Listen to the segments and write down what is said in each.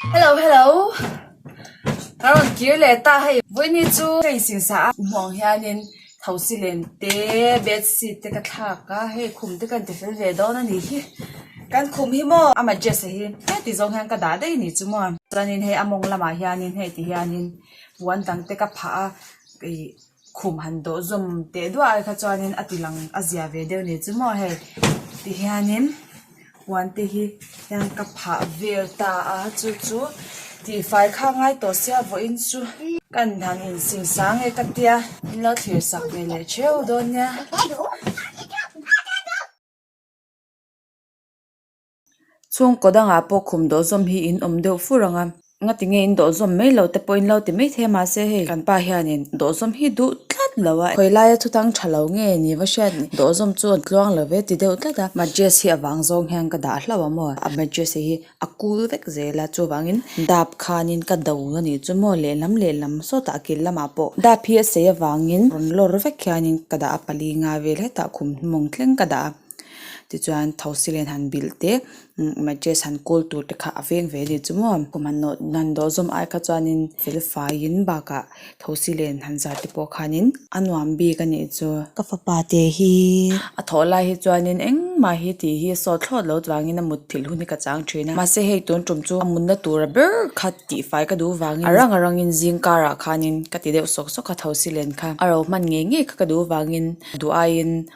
Hello hello ka rawn kir leh ta hei vawiini chu hei sin sa a hmuh ang hianin thosi len te bedsheet te ka thlak a hei khum te ka inti fel ve dawn a ni hi kan khum hi maw a mattress hi heti zawng hian ka dah daih ni chu maw chuanin hei a mawng lamah hianin heti hianin puan dang te ka phah a ih-- khum han dawh zawm teh duah ai kha chuanin a ti lang a zia ve deuh ni chu maw hei ti hianin puan te hi hian ka phah vel ta a chu chu tifai kha ngai tawh sia vawiin chu ka in han in sin sang nge ka tia min lo thlir sak ve leh theu dawn nia. chhungkawt angah pawh khum dawhzawm hi in awm deuh fur ang a nga ti nge in dawhzawm mai lo te pawh in lo ti mai thei mahse hei kan pa hianin dawhzawm hi duh tlat lo a khawi laia chutang tha lo nge ni va hriat ni dawhzawm chu a tluang lo ve ti deuh tlat a mattress hi a vang zawng hian ka dah hlauh a maw a mattress hi a cool vek zel a chuvangin dap khanin ka do a nih chu maw lehlam lehlam sawtah kil lamah pawh dap hi a sei avangin rawn lawr vek hianin ka dah a pali nga vel hetah khum hi mawng thleng ka dah a. tichuan thosi len han bilh te mattress han kawl tur te kha a veng ve ani chu maw kum han nawh han dawh zawm ai kha chuanin felfaiin bakah thosi len han zar te pawh khanin a nuam bik a nih chu ka fapa te hi a thawh lai hi chuanin engmah hi tih hi sawt thlawt lo vangin a mut thil hun hi ka chang thin a mahse hei tun tum chu a mutna tura ber kha tifai ka duh vangin a rang a rang in zing karah khanin ka ti deuh sawk sawk a thosi len kha a rohman ngei ngei kha ka duh vangin duh aiin.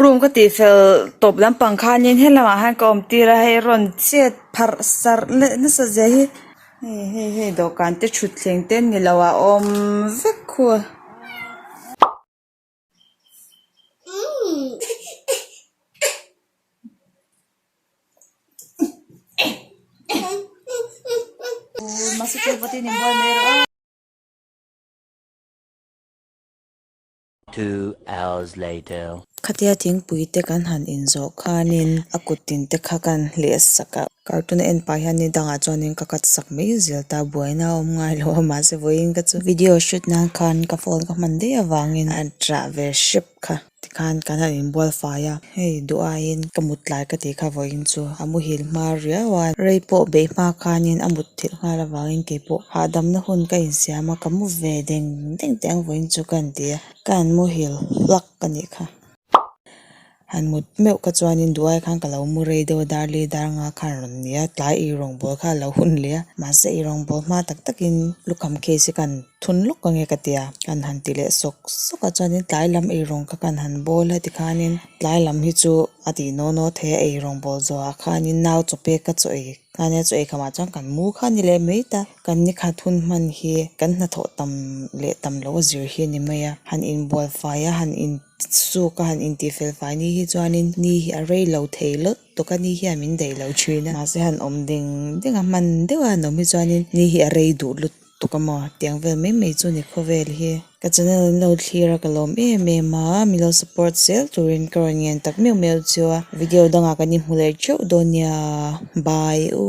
Room ka tih fel tawp lampang khanin helamah hian ka awm tir a hei rawn chet pharh sarh leh nasa zia hi hei hei hei dawhkan te thutthleng te ni lo a awm vek khua mahse chu vatin inbual mai rawh a. Two hours later. Khatia thingpui te kan han in zawh khanin a kut tin te kha kan hleh sak a. Cartoon a en pah hian ni dangah chuanin ka cut sak mai zel ta, buaina a awm ngai lo a mahse vawiin ka chu video shoot nan khan ka phone ka hman daih avangin a tah ve hrep kha. Tikhan kan han inbualfai a, hei duh aiin ka mut lai ka tih kha vawiin chu a muhil hmar riau a, rei pawh beih hma khanin a mut thilh nghal avangin kei pawh hahdamna hun ka insiam a, ka mu ve deng deng teh ang vawiin chu ka han ti a, ka han muhil hlak ka nih kha. Han mut meuh kha chuanin duhai khan ka lo mu rei deuh a, dar li dar nga kha an rawn ni a, tlai ih rawngbâwl kha a lo hun leh a, mahse i rawngbâwl hma tak takin lukham case hi ka han. thun lawk ka nge ka ti a, kan han ti leh sawk sawk a chuanin tlai lam erawng kha kan han bawl a tikhanin tlai lam hi chu a ti naw naw a theih a erawng bawl zawha khanin nau chaw pek ka chaw ei khania chaw ei khamah chuan kan mu kha a ni leh mai ta kan ni khat hun hman hi kan hnathawh tam leh tam loh a zir hi a ni mai a han inbualfai a han in suk a han intih fel fai ni hi chuanin ni hi a rei lo thei lawt lawt a ni hi a min daih lo thin a mahse han awm ding ding a hman deuha an awm hi chuanin ni hi a rei duh lut. tuk a maw tiang vel mai mai chu ni khawvel hi ka channel in lo thlir a ka lawm em em a mi lo support zel turin ka rawn ngen tak meuh meuh chu a video dangah kan inhmu leh teuh dawn nia bye u.